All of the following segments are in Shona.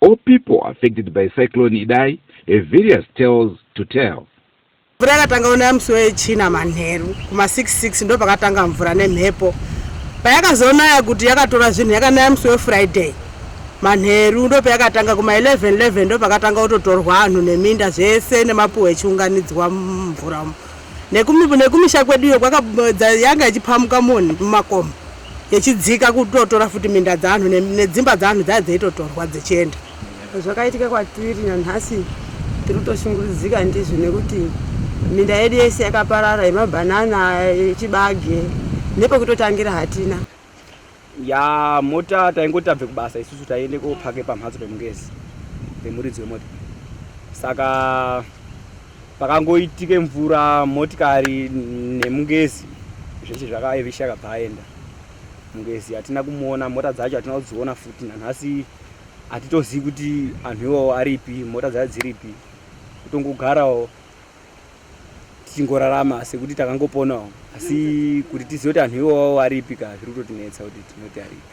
All people affected by Cyclone Idai have various tales to tell. Mvura yakatanga ona musi wechina manheru kuma 66 ndo pakatanga mvura nemhepo payakazonaya kuti yakatora zvinhu yakanaya musi wefriday manheru ndo payakatanga kuma 11 11 ndo pakatanga kutotorwa anhu neminda zvese nemapuhwa echiunganidzwa mumvura umu nekumisha kweduyo yanga ichipamuka moni mumakomo yechidzika kutotora futi minda dzevanhu nedzimba dzevanhu dzaiva dzeitotorwa dzechienda zvakaitika kwatiri nanhasi tiri kutoshungurudzika ndizvo nekuti minda yedu yese yakaparara yemabhanana yechibage nepekutotangira hatina ya mota taingoti tabve kubasa isusu taiende kopake pamhatso pemungezi pemuridzi wemota saka pakangoitike mvura motikari nemungezi zvese zvakaevisha akabva aenda mungezi hatina kumuona mota dzacho hatina kudziona futi nanhasi hatitozivi kuti anhu iwawo aripi mota dzacho dziripi kutongogarawo tichingorarama sekuti takangoponawo asi kuti tizive kuti anhu iwawo aripi ka zviri kutotinetsa kuti tinoti aripi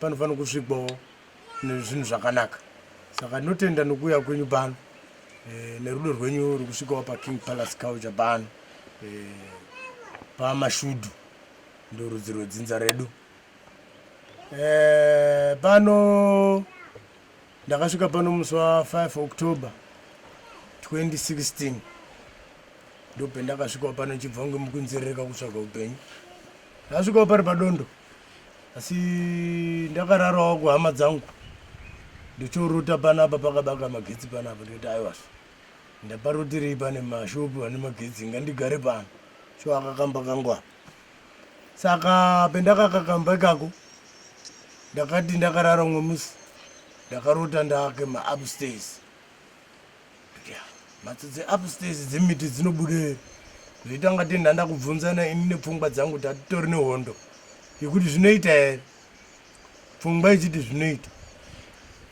panofanira kusvikwawo nezvinhu zvakanaka saka ndinotenda nokuuya kwenyu pano e, nerudo rwenyu rukusvikawo paking palace culture pano e, pamashudu ndorudzi rwedzinza redu e, pano ndakasvika pano musi wa5 october 2016 ndopendakasvikawo pano chibva kunge mukunzerereka kutsvaga upenyu ndasvikawo pari padondo pa asi ndakararawo kuhama dzangu ndochorota panapa pakabaka magetsi panapa ndikati aiwazvo ndaparotirei pane mashopu ane magetsi ngandigare pano so akakamba kangu apa saka pendakakakamba ikako ndakati ndakarara umwe musi ndakarota ndake maupstairs mhatso dzeupstairs dzemiti dzinobude zvoita kunga tenda ndakubvunzana ini nepfungwa dzangu kuti hatitori nehondo yekuti zvinoita here pfungwa ichiti zvinoita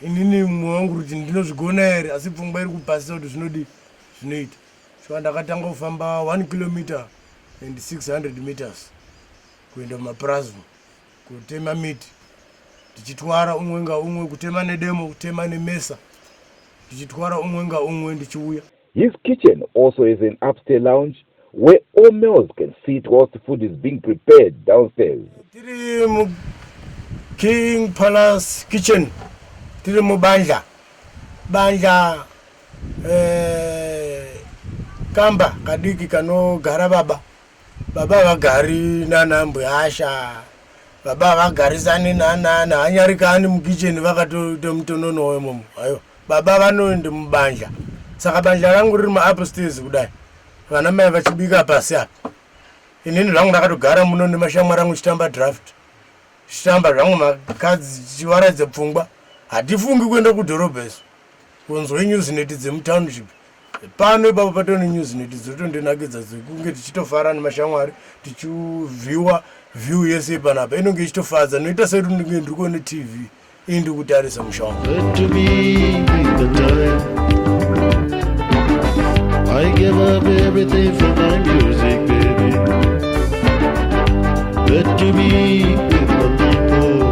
inini mumwe wangu kuti ndinozvigona here asi pfungwa iri kupasisa kuti zvinodi zvinoita saka ndakatanga kufamba one kilometer and 600 meters kuenda mumapurazi kutema miti tichitwara umwe ngaumwe kutema nedemo kutema nemesa tichitwara umwe ngaumwe ndichiuya His kitchen also has an upstairs lounge where all males can sit whilst food is being prepared downstairs. Tiri mu King Palace kitchen. Tiri mu bandla. Bandla eh kamba kadiki kanogara baba. Baba vagari nana mbuyasha baba vagarisani nanana hanyarikani mukicheni vakatoita mutonono wemomo ayo baba vanoende mubanja saka banja rangu riri maupstairs kudai vana mai vachibika pasi apa inini zvangu ndakatogara muno nemashamwari angu chitamba draft chitamba zvangu makadzi chivaradze pfungwa hatifungi kuenda kudhorobha isu kunzwe news neti dzemutownship pano ipapo patone news neti dzotondinakidza dzekunge tichitofara nemashamwari tichivhiwa view yese panapa inonge ichitofadza noita sekuti ndinge ndiri kuone tv iyi ndiri kutarisa musha wangu I give up everything for my music, baby. Let to be with the people.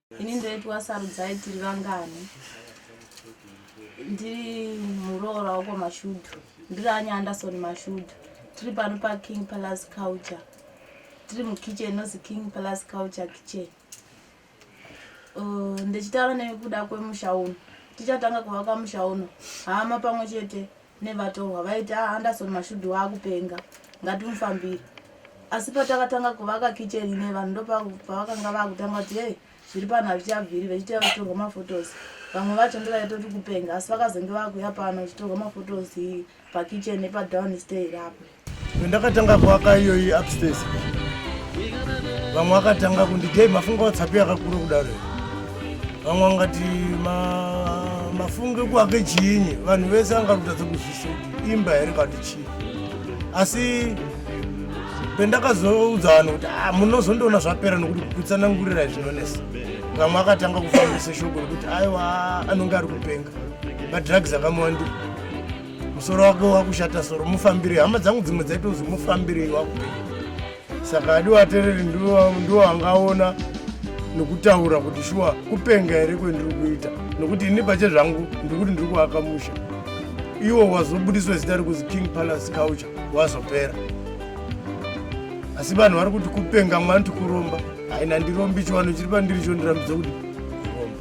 ini ndoitwa sarudzai tiri vangani ndiri muroora wako mashudhu ndiri anya anderson mashudhu tiri pano paking palace culture tiri mukitchen inozi king palace culture kitchen uh, ndichitaura nekuda kwemusha uno tichatanga kuvaka musha uno hama pamwe chete nevatorwa vaiti a ah, anderson mashudhi waakupenga ngatimufambire asi patakatanga kuvaka kitchen ine vanhu ndopavakanga vakutanga kuti hei zviri pano hazvichabviri vachiti vatorwa mafotos vamwe vacho ndovaitoti kupenga asi vakazenge vakuya pano vachitorwa mafotos pakitchen nepadown stay rapo Ndakatanga kuaka iyoyi upstairs. Vamwe vakatanga kundi dei mafunga watsapi yakakura kudaro. Vamwe vangati ma mafunge kuake chinyi vanhu vese vanga kutadza kuzvisa kuti imba here kati chii. Asi pendakazoudza vanhu kuti ah, munozondoona zvapera nokuti kutsanangurira izvinonesa. Vamwe vakatanga kufambisa shoko rekuti aiwa anonge ari kupenga. Madrugs akamuwandira. musoro wake wakushata soro mufambirei hama dzangu dzimwe dzaitozi mufambirei wakuei saka adi watereri ndiwo angaona nokutaura kuti shuwa kupenga here kwendiri kuita nokuti ini pache zvangu ndiri kuti ndiri kuaka musha iwo wazobudiswa zita rekuzi king palace culture wazopera asi vanhu vari kuti kupenga mwanti kuromba haina ndirombi chiwano chiri pandiri cho ndirambidza kuti kuromba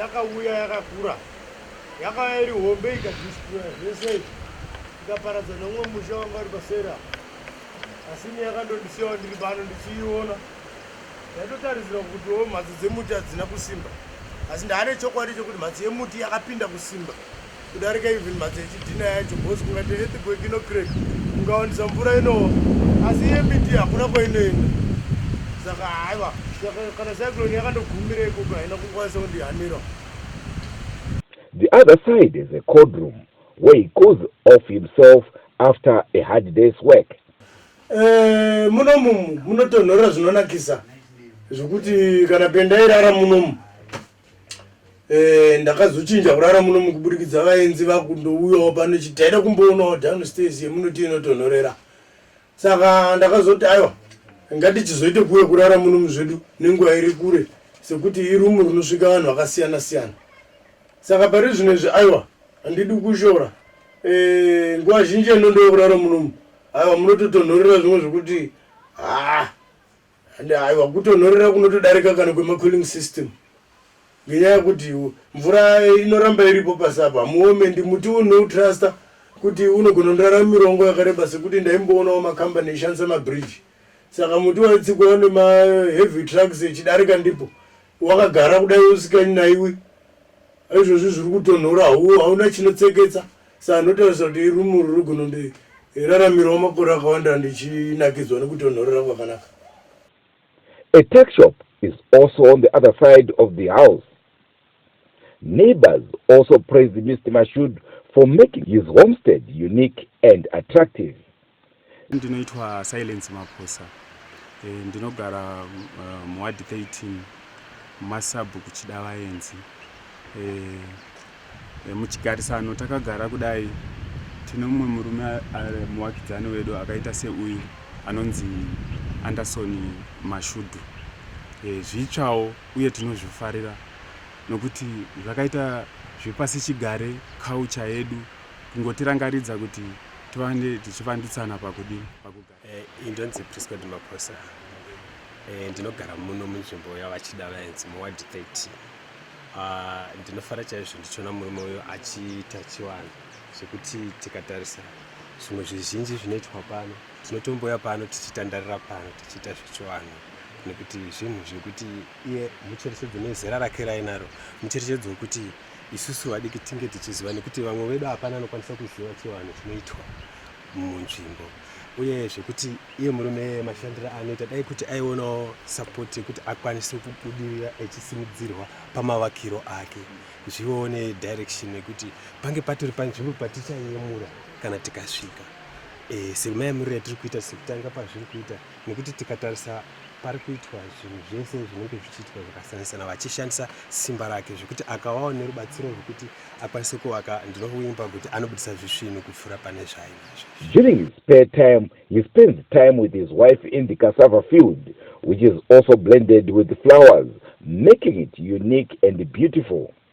yakauya yakakura yakauya iri hombe ikadistroya zvese ikaparadza nomwe musha wanga uri pasera asi ini yakandondisiyawo ndiri pano ndichiiona Ndaitotarisira kutiwo mhatso dzemuti hadzina kusimba asi ndaane chokwadi chekuti mhatso yemuti yakapinda kusimba kudarika even mhatso yechidhina yacho bcause kungati earthquake inocrek kungawandisa mvura inowa asi iye miti hakuna kwainoenda saka haiwa kana cyclone yakandogumira ikoko haina kukwanisa kundihanira The other side is a cold room where he goes off himself after a hard day's work. Eh, muno mumu munotonhorera zvinonakisa zvekuti kana pendairara munomu eh, ndakazochinja kurara munomu kuburikidza vaenzi vakundouyawo pano chiti taida kumboonawo downstairs yemunoti inotonhorera saka ndakazoti aiwa ngatichizoite kuuya kurara munomu zvedu nenguva iri kure sekuti irumu rinosvika vanhu vakasiyana siyana saka pari zvino izvi aiwa handidi kushora eh, nguva zhinji enondokurara munomu aiwa munototonhorera zvimwe zvekuti haa ah, ande aiwa kutonhorera kunotodarika kana kwemacooling system ngenyaya yekuti mvura inoramba iripo pasi apa hamuome ndi muti unoutraster kuti unogona ndirara mirongo yakareba sekuti ndaimboonawo makambani ishandisa mabridge saka muti waitsikwa nemaheavy trucks echidarika ndipo wakagara kudai usikanyi naiwe izvozvi zviri kutonhora hauna chinotseketsa Saka ndotaurisa kuti irumu iri rugona ndiraramirwa makore akawanda ndichinakidzwa nekutonhorera kwakanaka. A tuck shop is also on the other side of the house. Neighbors also praised Mister Mashud for making his homestead unique and attractive. Ndinoitwa Silence Maphosa. E, ndinogara uh, muward 13 mumasabhu kuchidavaenzi. E, eh, e, eh, muchigarisano takagara kudai tine mumwe murume ari muwakidzani wedu akaita seuyu anonzi Anderson Mashudhu. E, zvitsvawo uye tinozvifarira nokuti zvakaita zvepasi chigare culture yedu kungotirangaridza kuti tivande tichivanditsana pakudini pakugara eh, indonzi priscod maposa eh, ndinogara muno munzvimbo yavachida vaenzi muward 30 ah, ndinofara chaizvo ndichiona murume uyo achiita chivanhu zvekuti tikatarisa zvimwe zvizhinji zvinoitwa pano tinotomboya pano tichitandarira pano tichiita zvechivanhu nekuti zvinhu zvekuti iye mucherechedzo nezera rake rainaro mucherechedzo wekuti Isusu vadiki tinge tichiziva nekuti vamwe vedu hapana anokwanisa kuziva chivanhu chinoitwa munzvimbo uye zvekuti iye murume mashandiro anoita dai kuti aionawo sapoti yekuti akwanise kubudirira echisimudzirwa pamavakiro ake zvivewo nedirection yekuti pange patori panzvimbo patichayemura kana tikasvika e, eh, semaemuriro atiri kuita sekutanga pazviri kuita nekuti tikatarisa pari kuitwa zvinhu zvese zvinenge zvichiitwa zvakasiyana-siyana vachishandisa simba rake zvekuti akavawo nerubatsiro rwekuti akwanise kuvaka ndinokuimba kuti anobudisa zvisvinu kupfuura pane zvaainazvo during his spare time he spends time with his wife in the cassava field which is also blended with flowers making it unique and beautiful